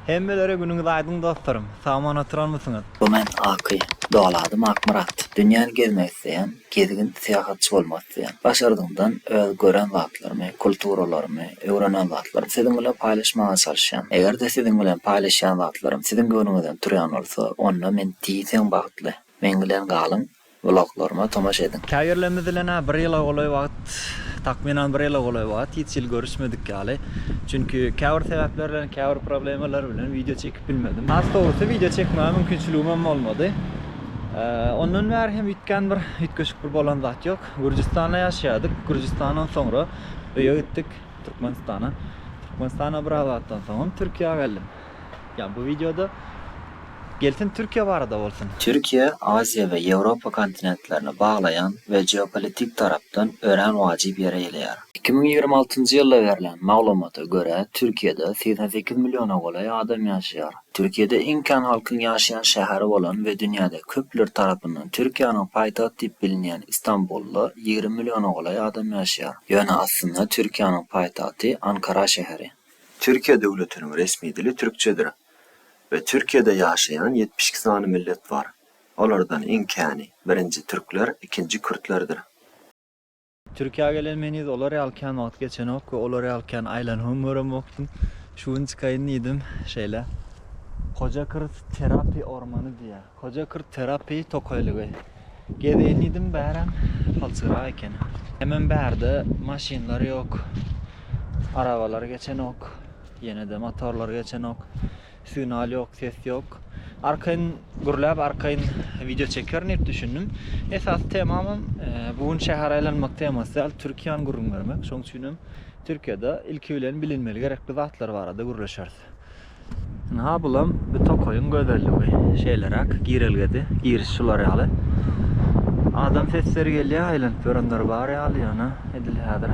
Hemmelere günüňiz aýdyň dostlarym. Sag-aman oturanmysyňyz? Bu men Aky. Doly adym Akmyrat. Dünýäni gezmek isleýän, gezgin, syýahatçy bolmak isleýän. Başardygyňdan öz gören zatlarymy, kulturalarymy, öwrenen zatlarymy siziň bilen paýlaşmaga çalyşýan. Eger-de siziň bilen paýlaşýan zatlarym siziň göwnüňizden turýan bolsa, onda men diýseň bagtly. Meň bilen galyň! Bloglaryma tomaşa ediň. Käbirlerimiz-bilen-ä bir ýyla golaý wagt, takmynan bir ýyla golaý wagt hiç ýyl görüşmedik ýaly. Çünki käbir sebäpler bilen, käbir problemalar bilen wideo çekip bilmedim. Has dogrusy, wideo çekmäge mümkinçiligimem bolmady. Ondan bäri hem üýtgän bir, üýtgeşik bir bolan zat ýok. Gürjüstanda ýaşaýardyk. Gürjüstandan soňra öýe gitdik, Türkmenistana. Türkmenistana biraz wagtdan soňam Türkiýä geldim. Ýa bu wideoda Gelsin Türkiýe barada bolsun. Türkiýe Aziýa we Ýewropa kontinentlerini baglaýan we geopolitik tarapdan örän wajyp ýere eýleýär. Iki müň ýigrimi altynjy ýylda berlen maglumata görä, Türkiýede segsen sekiz milliona golaý adam ýaşaýar. Türkiýede iň kän halkyň ýaşaýan şäheri bolan we dünýäde köpler tarapyndan Türkiýäniň paýtagt diýip bilinýän Istanbulda ýigrimi milliona golaý adam ýaşaýar. Ýöne aslynda Türkiýäniň paýtagty Ankara şäheri. Türkiýe döwletiniň resmi dili türkçedir we Türkiýede ýaşaýan ýetmiş iki sany millet bar. Olardan iň käni, birinji türkler, ikinji kürtlerdir. Türkiýä gelen men yz olar ýaly kän wagt geçenok we olar ýaly kän aýlanybam göremokdym. Şu gün çykaýyn diýdim. Şeýle. Hoja Kyrt terapi ormany diýýär. Hoja kurt terapiýa tokaýlygy. Gezeýin diýdim bärem palçygrak eken. Hemem bärde maşynlar ýok. Arabalar geçenok. Ýenede motorlar geçenok. Signal ýok, ses ýok. Arkaýyn gürläp arkaýyn wideo çekerin diýip düşündim. Esasy temamam bu gün şäher aýlanmak temasy däl, Türkiýäni gürrüň bermek. Şoň üçinem Türkiýede ilki bilen bilinmeli gerekli zatlar barada gürleşeris. Ynha, bulam bu tokaýyň gözelligi. Şeýleräk girelgede, giriş şular ýaly. Adam sesleri gelýär, aýlanyp ýörenler bar ýaly, ýöne edil häzir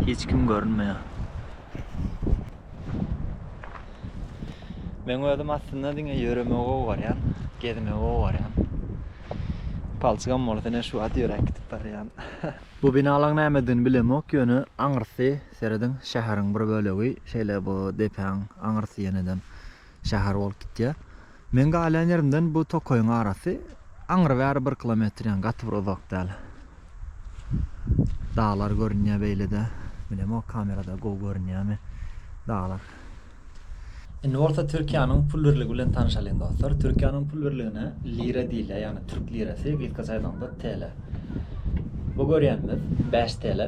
hiç kim görünmeýär. Meň özüm aslynda diňe ýöremegi gowy görýän, gezmegi gowy görýän. Palçygam bolsa ine şu wagt ýöräp gidip barýan. Bu binalaň nämedigini bilemok, ýöne aňyrsy Serediň, şäheriň bir bölegi şeýle bu depäň aňyrsy ýeneden şäher bolup gitýär. Meň galýan ýerimden bu tokaýyň arasy aňry-bäri bir kilometr, ýagny gaty bir uzak däl. Daglar görünýär beýle-de. Bilemok, kamerada gowy görünýärmi daglar. Indi bolsa Türkiýäniň pul birligi bilen tanyşalyň dostlar. Türkiýäniň pul birligine lira diýilýär, ýagny türk lirasy, gysgaça aýdanyňda TL. Bu görýänimiz bäş TL.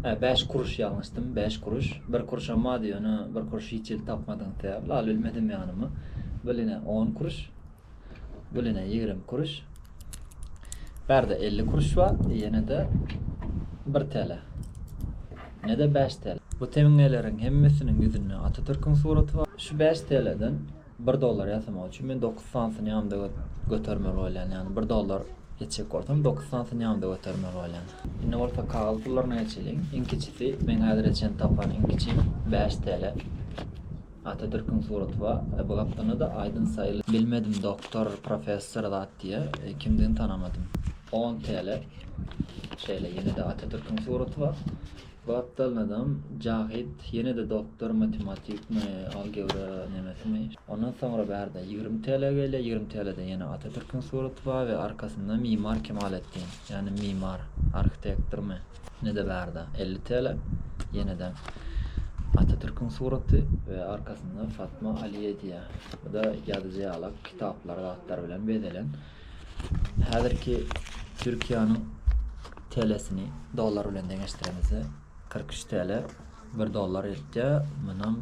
Hä, bäş kuruş ýalňyşdym, bäş kuruş. Bir kuruşam bady, ýöne bir kuruş hiç ýerde tapmadygyňyz sebäpli alybilmedim ýanyma. Bil ine on kuruş. Biline ýigrimi kuruş. Bärde elli kuruş bar, ýene-de bir TL. Ne-de bäş TL. Bu teňňeleriň hemmesiniň ýüzünde Atatürküň suraty bar. Şu bäş TL-den bir dollar ýasamak üçin men dokuz sanysyny ýanymda götermeli bolýan. Ýagny bir dollar ýetjek bolsam, dokuz sanysyny ýanymda götermeli bolýan. Indi bolsa kagyz pullaryna geçeliň. Iň kiçisi, meň häzire çenli tapan iň kiçi bäş TL. Atatürküň suraty bar e bu gapdalynada aýdym saýyly. Bilmedim doktor professor zat diýä kimdigini tanamadym. On tele şeýle ýenede Atatürküň suraty bar bu gapdalynadam Jahyt ýenede doktor matematikmi algebra nemesimi. Ondan soňra bärde ýigrimi tele gelýä ýigrimi telede ýene Atatürküň suraty bar we arkasynda Mimar Kemaletdin ýagny mimar arhitektormy. Nede barda elli tele ýeneden Atatürküň suraty we arkasynda Fatma Aliýe diýýär. Bu-da ýazyjy ýalak kitaplar zatlar bilen bezelen. Häzirki Türkiýäniň telesini dollar bilen deňeşdiremizde kyrk üç tele bir dollar eltýär. Munam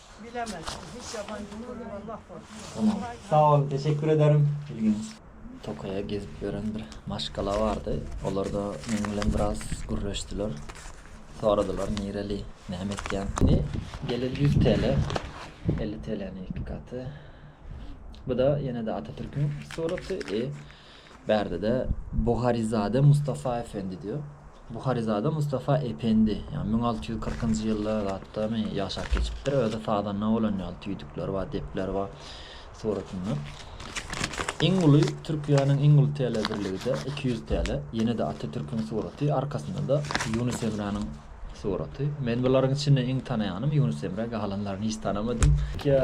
Tamam. Sag bol, teşekkür ederim. Ilginç. Tokaýa gezip ýören bir maşgala bardy. Olarda meň bilen biraz gürleşdiler. Soradylar nireli, näme etýäň? Indi gelir ýüz TL, elli TL-niň iki gaty. Bu-da ýene-de Atatürküň suraty. Bärde-de Buharyzade Mustafa Efendi diýýär. Buharyzade Mustafa Ependi, ýa müň alty ýüz kyrkynjy ýylda zatdamy ýaşap geçipdir, özi sazanda bolan ýaly tüýdükler bar, depler bar suratynda. Iň uly Türkiýäniň iň uly telebirligi-de iki ýüz tele, ýene-de Atatürküň suraty, arkasynda-da Ýunus Emräniň Suraty. Men bularyň içinde iň tanaýanym Ýunus Emre, galanlaryny hiç tanamadym. Türkiýe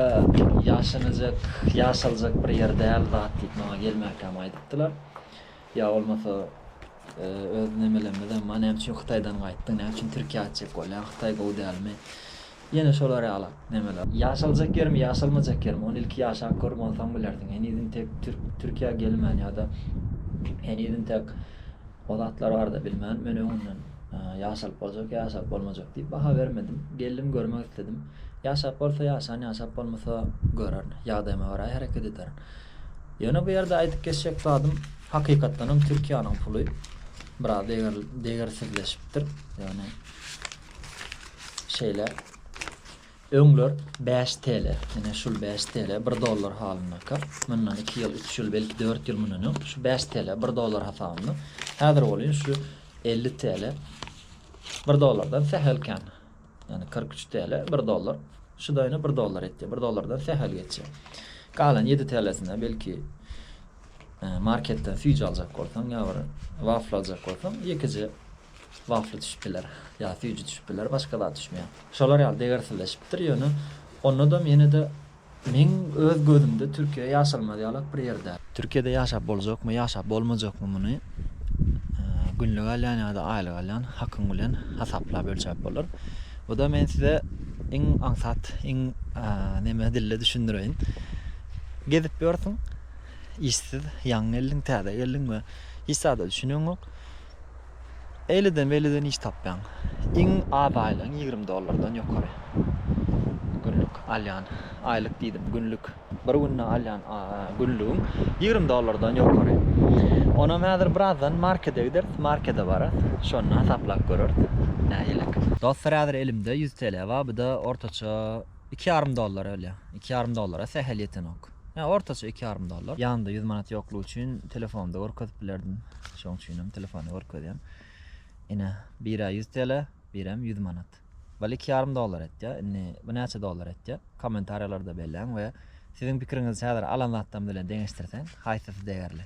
ýaşanajak, ýaşaljak bir ýer däl zat diýip maňa gelmäkäm aýdypdylar. Ýa bolmasa öz nemelemizem bar, näme üçin Hytaýdan gaýtdyň, näme üçin Türkiýä aýtjak bolýaň, Hytaý gowy dälmi? Ýene şolar ýala. Nemeler? Ýaşaljak ýermi, ýaşalmajak ýermi, ony ilki ýaşap görüp onsaň bilersiň. Heniz intek türk Türkiýä gelmän ýa-da heniz intek o zatlar barada bilmän men öňünden ýaşalyp boljak ýa ýaşalyp bolmajak diýip baha bermedim. Geldim görmek isledim. Ýaşap bolsa ýaşan ýaşap bolmasa görerin. Ýagdaýyma görä hereket ederin. Ýöne bu ýerde aýdyp geçjek zadym hakykatdanam Türkiýäniň puly biraz deger degersizleşipdir. Ýagny Şeýle. Öňler bäş TL, ine şul bäş TL, bir dollar halyndaka, mundan iki ýyl, üç ýyl, belki dört ýyl mundan öň şu bäş TL, bir dollar hasabynda, häzir bolýun şu elli TL, bir dollardan sähel kän, ýagny kyrk üç TL, bir dollar, şu-da ine bir dollar etýär, bir dollardan sähel geçýär. Galan ýedi TL-sine belki marketden süýji aljak bolsaň ýa bir wafl aljak bolsaň, ýekeje Wafli düşüp biler. Ýa süýji düşüp biler, başga zat düşmeýär. Şolar ýaly degersizleşipdir, ýöne onadam ýene-de meň öz gözümde Türkiýe ýaşalmaz ýalak bir ýer däl. Türkiýede ýaşap boljakmy, ýaşap bolmajakmy muny günlük alýan ýa-da aýlyk alýan hakyň bilen hasaplap ölçäp bolar. Bu-da men size iň aňsat, iň neme dilde düşündireýin. Gezip ýörsüň, işsiz, ýaňy geldiň, täze geldiň we hiç zada düşüneňok. Eýleden-beýleden iş tapýaň. Iň az aýlygyň ýigrimi dollardan ýokary. Günlük alýan, aýlyk diýdim, günlük. Bir günde alýan günlügiň ýigrimi dollardan ýokary. Onam häzir birazdan markede gideris, markede bararys. Şonda hasaplap göreris, nähililik. Dostlar, häzir elimde ýüz TL bar, bu-da ortaça iki ýarym dollar ölýär. Iki ýarym dollara sähel ýetenok. Ýa ortaça iki ýarym dollar. Ýanymda ýüz manat ýoklugy üçin telefonda görkezip bilerdim. Şoň üçinem telefonda görkezýän. Ine, birä ýüz TL, birem ýüz manat. Bal iki ýarym dollar etýär. Indi bu näçe dollar etýär? Kommentariýalarda belläň we siziň pikiriňizi häzir alan zatdan bilen deňeşdirseň, haýsysy degerli?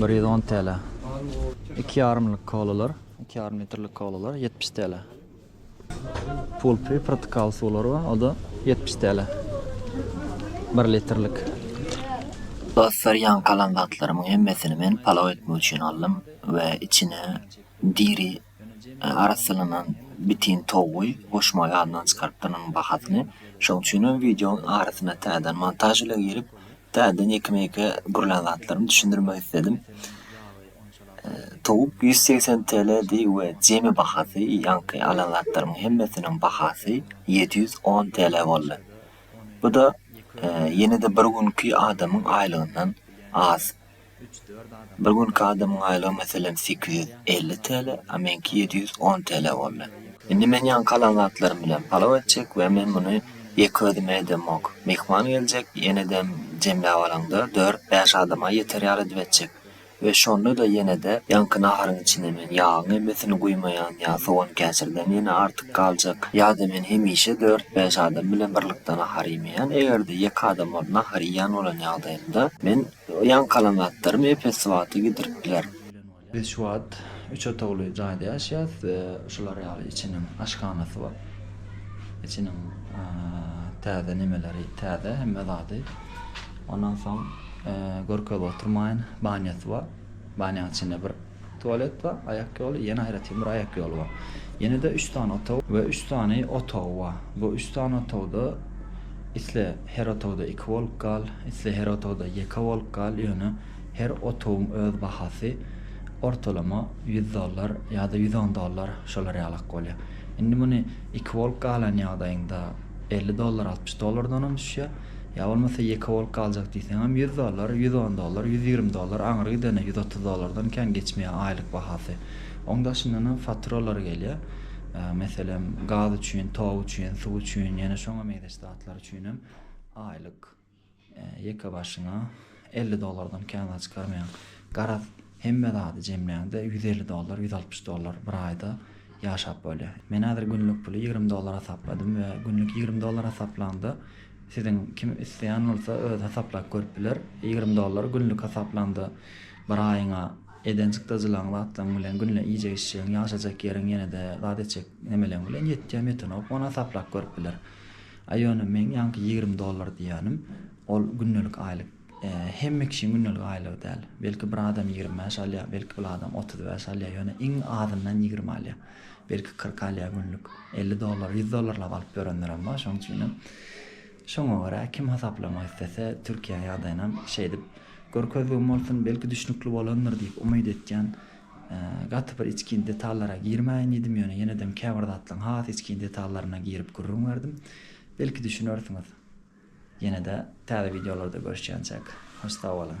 Bir ýüz on TL. Iki ýarymlyk kolalar, iki ýarym litrlik kolalar ýetmiş TL. Pulpy, protokal suwlary bar, o-da ýetmiş TL. Bir litrlik. Dostlar, ýaňky alan zatlarymyň hemmesini men palaw etmek üçin aldym we içine diri arassalanan bitin towugy goşmagy ýadyndan çykarypdyr onuň bahasyny. Şonuň üçinem wideoň arasyna täzeden montaž ile girip, täzeden ýeke-meke gurlan zatlarymy düşündirmek isledim. Towuk ýüz segsen TLdi we jemi bahasy, ýaňky alan zatlarymyň hemmesiniň bahasy ýedi ýüz on TL boldy. Bu-da ýene-de bir günki adamyň aýlygyndan az. Bir günki adamyň aýlygy meselem sekiz ýüz elli TL, a meňki ýedi ýüz on TL boldy. Indi men ýaňky alan zatlarym bilen palaw etjek we men muny ýeke özüme edemok. Myhman geljek, ýenedem jemläp alaňda dört, bäş adama ýeter ýaly edip etjek. We şonda-da ýene-de ýaňky naharyň içine men ýagyň emmesini guýmaýan ýa sogan käşirden ýene artyk galjak. Ýa-da men hemişe dört, bäş adam bilen birlikde nahar iýmeýän. Eger-de ýeke adam bolup nahar iýýän bolan ýagdaýymda men Ýaňky alan zatlarym ep-esli wagta gidiripdiler. Biz şu wagt üç otagly jaýda ýaşaýas. Şular ýaly içiniň aşhanasy bar. Içiniň täze nemeleri täze hemme zady. Ondan soň görkezip oturmaýyn, banýasy bar. Banýanyň içinde bir. Tualet bar, aýak ýoly, ýene aýratyn bir aýak ýoly bar. Ýene-de üç sany otag we üç sany otagy bar. Bu üç sany otagda isle her otagda iki bolup gal, isle her otagda ýeke bolup gal, ýöne her otagyň öz bahasy ortalama ýüz dollar ýa-da ýüz on dollar şolar ýalak bolýar. Indi muny iki bolup galan ýagdaýyňda elli dollar, altmyş dollardanam düşýär. Ýa bolmasa ýeke bolup galjak diýseňem ýüz dollar, ýüz on dollar, ýüz ýigrimi dollar, aňry gidende ýüz otuz dollardan kän geçmeýär aýlyk bahasy. Oň daşyndanam faturalar gelýär. Meselem, gaz üçin, tok üçin, suw üçin, ýene şoňa meňzeş zatlar üçinem aýlyk ýekebaşyna Elli dollardan kän zat çykarmaýaň. Garaz, hemme zady jemläňde, ýüz elli dollar, ýüz altmyş dollar bir aýda ýaşap bolýar. Men häzir günlük puly ýigrimi dollar hasapladym we günlük ýigrimi dollar hasaplanda, siziň kim isleýän bolsa özi hasaplap görüp biler. Ýigrimi dollar günlük hasaplanda bir aýyňa eden çykdajylaryň, zatlaryň bilen günde iýjek-içjegiň, ýaşajak ýeriň ýene-de zat etjek nemeleň bilen ýetýärmi-ýetenok, ony hasaplap görüp biler. A ýöne meň ýaňky ýigrimi dollar diýýänim, Ol gündelik aýlyk. Hemme kişiň gündelik aýlygy däl. Belki bir adam ýigrimi bäş alýar, belki bir adam otuz bäş alýar, ýöne iň azyndan ýigrimi alýar. Belki kyrk alýar günlük. Elli dollar, ýüz dollarlap alyp ýörenlerem bar. Şoň üçinem şoňa görä kim hasaplamak islese, Türkiýä ýagdaýynam şeýdip görkezdigim bolsun, belki düşnükli bolandyr diýip umyt etýän. Gaty bir içgin detallara girmäýin diýdim, ýöne ýenedem käbir zatlaryň has içgin detallaryna girip gürrüň berdim. Belki düşünersiňiz. Ýene-de täze wideolarda görüşýänçäk, hoş sag boluň!